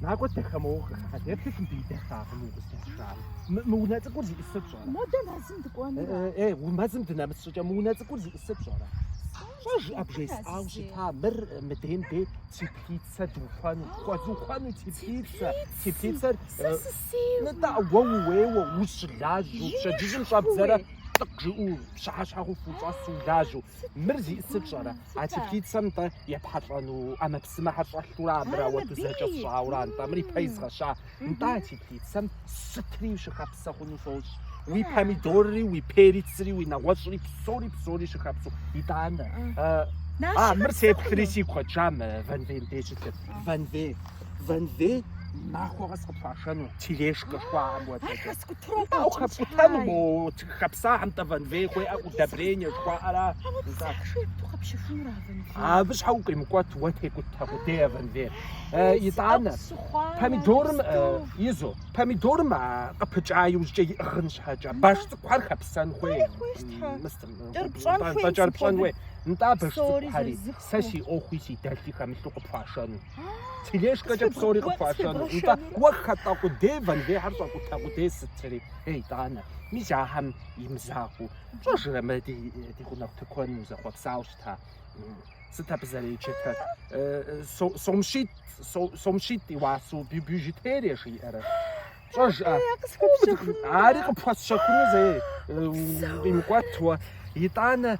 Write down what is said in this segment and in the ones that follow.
Накӏуэ дэхэмыухэ. Адепты кым дыйдэхакъым укъыздэтшар. Мы мы унэ цӏыкӏур зищӏысыр пщӏэрэ? Модэ мэзым дыкӏуэнура? Э, э, мы мэзым дынэмыс щӏыкӏэ мы унэ цӏыкӏур зищӏысыр пщӏэрэ? Пщӏэжӏэ бжесӏауэ щыта, мыр э, мыдейм дей теплицэ духуэну, пхуэзухуэну теплицэ, теплицэр Сэ э, сысейуэ. Нытӏэ, уэ ууейуэ, ущылажьэу, пщэдджыжьым щӏэбдзэрэ цӏыкъ жиӏэу, пщыхьэщхьэ хъуху ущӏэсу, улажьэу. Мыр зищӏысыр пщӏэрэ? А теплицэм тӏэ епхьэлӏэну ӏэмэпсымэхэр щӏэлъурэ абыра уэ дызэкӏэ сщӏаура? Нтӏэ мыр ипэ изгъэща. Нтӏэ а теплицэм сытри щыхэпсэ хъуну сощӏ. Уи помидорри, уи перецри, уи нэгъуэщӏри псори псори щыхэпсу. Итӏанэ. А, мыр сеплъри си куэт жамэ вэнвейм дей щылъыр. Вэнвей. Вэнвей махуэ къэс къыпхуашэну тележкэ жыхуаӏэм хуэдэ. Ар хэскӏутэну? Ауэ хэпкӏутэну, Хэпсахьэм тӏэ вэнвей хуеӏэ удобрение жыхуаӏэра? Абы щхьэ укъимыкӏуэт уэ текӏутэ къудей а вэнвейр. Итӏанэ помидорым изу помидорым къыпыкӏа иужькӏэ иӏыгъын щхьэкӏэ баш цӏыкӏухэр хэпсэн хуей. Кӏэрыпщӏэн хуей. Нтӏэ а баш цӏыкӏухьэри сэ си ӏуэхуи си дэлъи хэмылъу къыпхуашэну. Тележкэкӏэ псори къыпхуашэну. Нтӏэ уэ хэтӏэ къудей вэнвейхьэр щӏэкӏутэ къудей сытри. Итӏанэ, мис ахэм имызакъуэу, пщӏэжрэ, мы ди гъунэгъу тыкуэным узэхъуэпсауэ щыта? Сыт абы зэреджэтэр? Сом щитӏ, сом щитӏ и уасэу бижутерие жиӏэрэ? Пщӏэжӏэ, ари къыпхуэсщэхуну зэи укъимыкӏуэт уэ. Итӏанэ,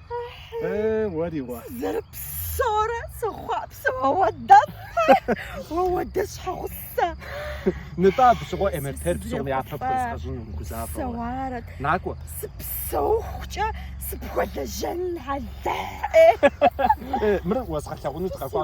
Э, уэри уэ. Сызэрыпсэурэ сыхъуапсэ уэдэ. Уэ пхуэдэ щхьэгъусэ. Нытӏэ абы щыгъуэ МРТ-р псом япэ пхуезгъэщӏын умыгузавэ. Упсэуарэт. Накӏуэ. Сыпсэухукӏэ сыпхуэлэжьэн хьэлэ. Мыр уэзгъэлъагъуну дыкъэкӏуа.